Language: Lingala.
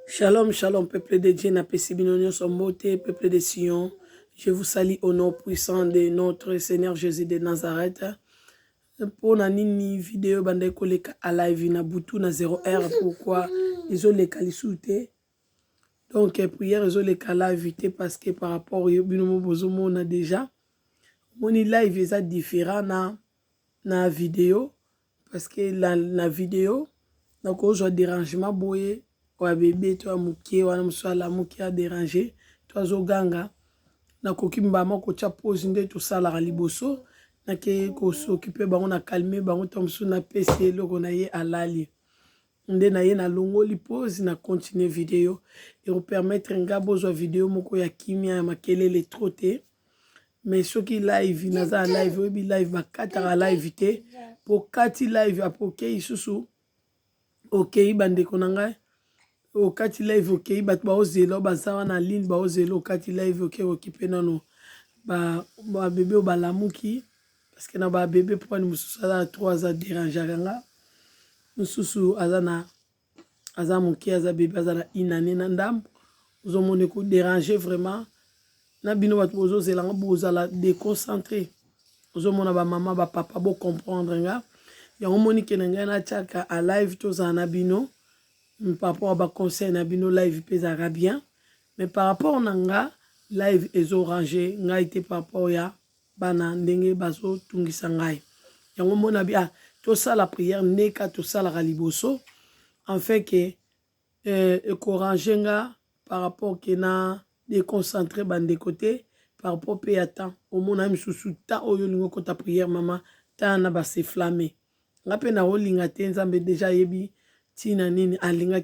Shalom, shalom, peuple de Dieu, na pesi bino nyonso mbote, peuple de Sion. Je vous salue au nom puissant de notre Seigneur Jésus de Nazareth. Pour na nini vidéo bande koleka à live na butu na 0 heure pourquoi ils ont les calisouté. Donc euh, prière ils ont les live te parce que par rapport au bino mo bozo mona déjà. Moni live eza différent na na vidéo Parce que la, na video nakozwa derangement boye oya bebe to ya moke wana mosusu alamuki a deranger to azoganga nakoki mbala moko kotya pose nde tosalaka liboso nake kosokipe bango na calme bango ntango mosusu napesi eloko na ye alali Nde na ye na longoli pause na continuer video. Eko permettre nga bozwa video moko ya kimia ya makelele trop te. Mais soki live naza na live oyebi live bakataka live te. Po kati live apo okeyi susu okeyi bandeko na ngai okati live okeyi bato baozela baza wana ligne baozela okati live oke okipe nano babebe oyo balamuki parce que na ba bebe po ani mususu aza na trois aza derangeaka nga mususu aza na aza moke aza bebe aza na une année na ndambo ozomona ekoderange vraiment na bino bato bozozela nga bozala déconcentré ozomona bamama bapapa bocomprendre nga yango moni ke na ngai natyaka a live tozala na bino papa wa baconseil na bino live mpe ezalaka bien mais par rapport na nga live ezorange ngai te par rapport ya bana ndenge bazo tungisa ngai yango mona bi ah tosala prière neka tosalaka liboso en fait que euh, ekorange nga par rapport que na déconcentre bandeko te par rapport mpe ya temps omona ye mosusu ta oyo olingi okota prière mama ta na baseflame nga mpe naolinga te nzambe deja ayebi ntina nini alingaki